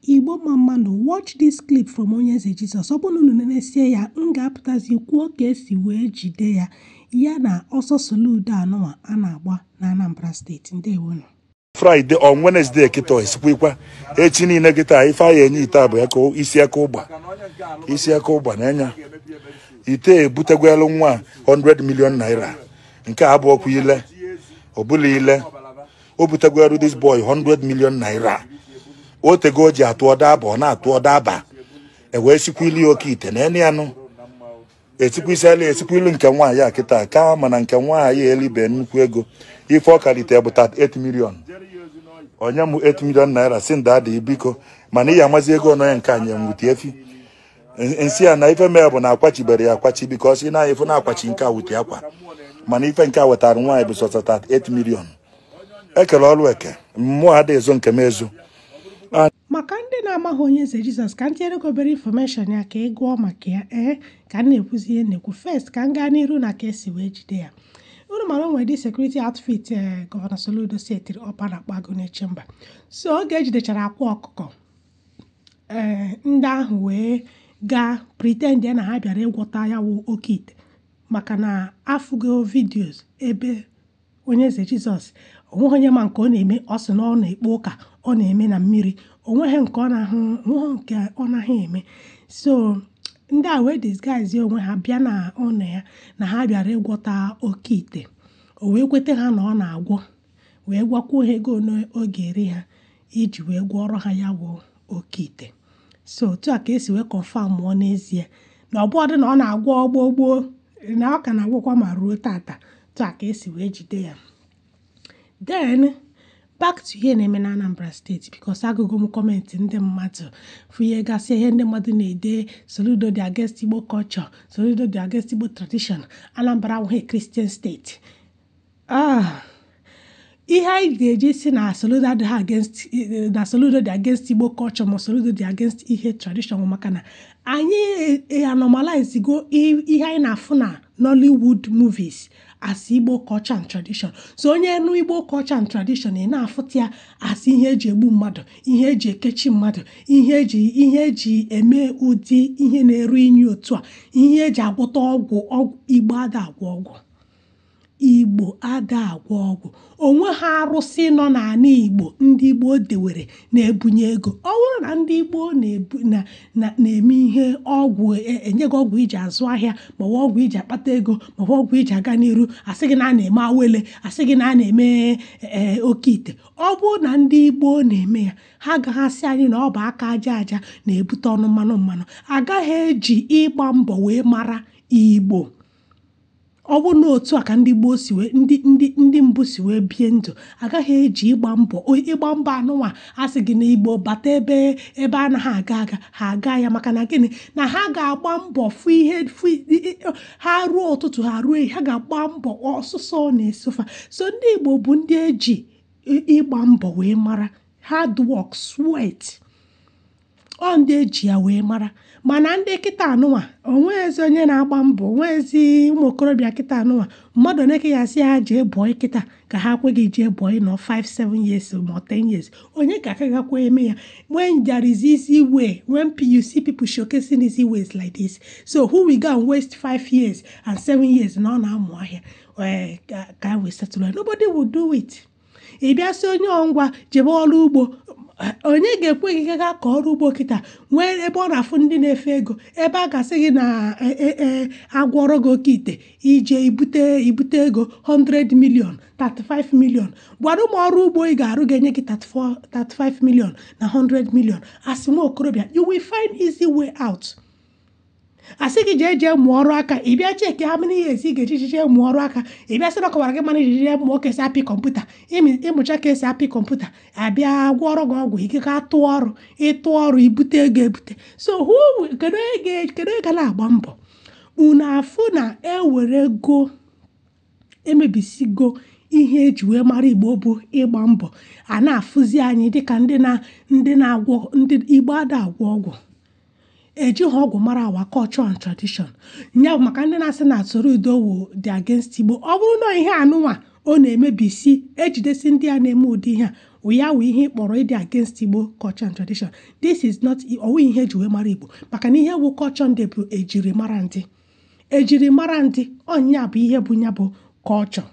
Igbo mma mma nụ watch this clip from onye eze Jesus ọ bụrụ na unu nenesie ya m ga-apụtazi kwuo ka esi wee jide ya ya na ọsọ soludo anụwa a na-agba na Anambra steeti ndewonu Friday on Wednesday kịta esikwikwa echi niile kịta ife a ya-enye ite bụ aka isi aka ụgba isi aka ụgba na-enye ite ebutegwelu nwa 100 million naira nke a bụ ọkwa ile ọbụla ile o butegoro this boy 100 million naira o tego o ji atụ ọ da aba ọ na-atụ ọ da aba e wee sikwili oke ite na eni anụ esikwili nke nwaanyị a kịta ka mana nke nwaanyị elibe nnukwu ego ife ọ ka lite bụ 38 million o nye m 8 million naira sị m daddy biko mana ị ya amazi ego ọnụ ya nke anyị enwute efi m sị ya na ife mee bụ na akwachibere ya akwachi because na ife na-akwachi nke a wụ ite akwa mana ife nke a wetara nwaanyị bụ sọsọ 38 million ekelu ọrụ eke mụwa ada ezo nke m ezo maka ndị na-amaghị onye eze Jesus ka m tinyere gị obere information ya ka ị gụọ maka ya ee ka m na-ekwuzi ihe na-ekwu first ka m gaa n'iru na ka esi wee jide ya unu mara o nwere the security outfit ee gọvanọ soludo setiri up a na-akpọ Agụnechemba so oge ejidechara Akwa Ọkụkọ ee ndị ahụ wee gaa pretend na ha bịara ịgwọta ya wụ oke ite maka na afụgo videos ebe onye eze Jesus onweghị onye ma nke ọ na-eme ọ sị na ọ na-ekpe ụka ọ na-eme na mmiri onweghị nke ọ naghị eme so ndị a wee disguise onwe ha bịa na ụnọ ya na ha bịara ịgwọta oke ite o wee kweta ha na ọ na-agwọ wee gwakwuo ha ego ole ọ ga-eri ha iji wee gwọọrọ ha ya bụ oke ite so otu a ka esi wee confirmụọ n'ezie na ọ bụọdụ na ọ na-agwọ gboo gboo na ọ ka na-agwọkwa ma ruo tata otu a ka esi wee jide ya then back to ihe na-eme na Anambra steeti because agụgo m comment ndị mmadụ fụ ihe gasị ihe ndị mmadụ na-ede Soludo dị against Igbo culture Soludo dị against Igbo tradition Anambra awụghị Christian steeti Ah, ihe anyị ga-eji si na Soludo adịghị against na Soludo dị against Igbo culture ma Soludo dị against ihe tradition maka na anyị anormalize go ihe anyị na-afụ na Nollywood movies as Igbo culture and tradition so onye nụ Igbo culture and tradition ị na-afụta ya as ihe eji egbu mmadụ ihe eji ekechi mmadụ ihe eji ihe eji eme ụdị ihe na-eru inyi otu a ihe eji agwọta ọgwụ ọgwụ Igbo ada agwọ ọgwụ igbo ada agwọ ọgwụ onweha arụsị nọ n'ala igbo ndị gboo dewere na-ebunye ego ọ bụrụ na ndị gboo na-eme ihe ọgwụ e, enye gị ọgwụ iji azụ ahịa maọbụ ọgwụ iji akpata ego maọbụ ọgwụ iji aga n'iru asị gị na a na-eme awele asị gị na a na-eme e, e, oke ite ọ bụrụ na ndị gboo na-eme ya ha agaghị asị anyị na ọ bụ aka aja aja na-ebute ọnụ mmanụ mmanụ agaghị eji ịgba mbọ wee mara igbo ọ bụrụ na otu a ka ndị gboo si wee ndị ndị ndị mbụ si wee bie ndụ agaghị eji ịgba mbọ ịgba mbọ anụnwa asị gị na igbo bata ebe ebe anaghị aga aga ha aga ya maka na gịnị na ha ga-agba mbọ fụ ihe fụ ha rụọ ụtụtụ ha rụọ ha ga-agba mbọ ọsụsọ na-eso fa so ndị igbo bụ ndị eji ịgba mbọ wee mara hard work sweat ọ ndị eji ya wee mara mana ndị kịta anụnwa onweghịzi onye na-agba mbọ onweghịzi ụmụ okorobịa kịta anụnwa mmadụ one ka ị ya-asị ha jee boy kịta ka ha kwe gị jee boy nọọ 5 7 years ma 10 years onye ka aka gakwa eme ya when there is easy way when you see people showcasing easy ways like this so who will go and waste 5 years and 7 years na ọ na-amụ ahịa eh, ka e wee settle nobody will do it ị bịa sị onye ọ ngwa jebe ọrụ ugbo onye ga-ekwe gị ga ka ọrụ ugbo kịta nwee ebe ọ na-afụ ndị na-efe ego ebe a ga-asị gị na e, e, e, agwọrọ gị oke ite ị jee ibute ibute ego 100 million 35 million gwadụ mụ ọrụ ugbo ị ga-arụ ga-enye gị 35 million na 100 million as nwa okorobịa you will find easy way out asị gị jee jee mụọ ọrụ aka ị bịa check how many years ị ga-eji jee mụọ ọrụ aka ị bịa sị na ọ kaara gị mma na ị jee mụọ ka esi apị kọmputa ịmị- ịmụcha ka esi apị kọmputa a bịa gwọọrọ gị ọgwụ ị gaa tụọ ọrụ ịtụ ọrụ ibute ego ebute so who will- kedu onye ga- kedu onye ga na-agba mbọ unu afụ na ewere ego emebisigo ihe eji wee mara igbo bụ ịgba mbọ a na-afụzi anyị dịka ndị na ndị na-agwọ ndị igbo ada agwọ ọgwụ ejighị ọgwụ mara our culture and tradition nya maka ndị na-asị na soludo wu dị against igbo ọ bụrụ na ihe anụnwa ọ na-emebisi ejidesi ndị a na-eme ụdị ihe a ya wụ ihe kpọrọ ịdị against igbo culture and tradition this is not ọ wụ ihe eji wee mara igbo maka na ihe wu culture ndị bụ ejiri mara ndị ejiri mara ndị ọ nya bụ ihe bụ ya bụ culture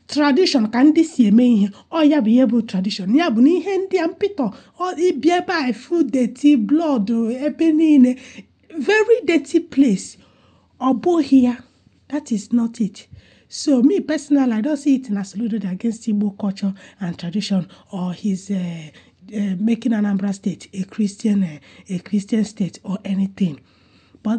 tradition ka ndị si eme ihe ọ ya bụ ihe bụ tradition ya bụ na ihe ndị a mpịtọ ị bịa ebe a ị fụ dirty blood ebe niile very dirty place ọ bụghị ya that is not it so me personally i don't see it na soludo dị against igbo culture and tradition or he's uh, uh, making anambra state a christian uh, a christian state or anything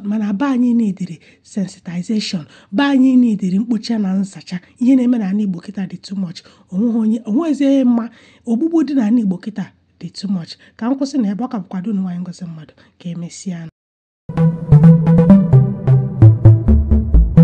mana be anyị neediri sensitization be anyị neediri mkpocha na nzacha ihe na-eme n'anị Igbo kịta dị too much onweghị onye onwezi onye mma ogbugbu dị n'anị Igbo kịta dị too much ka m kwụsị na ebe a ọ ka bụkwa ada unu nwaanyị Ngozi Mmadụ ka emesịa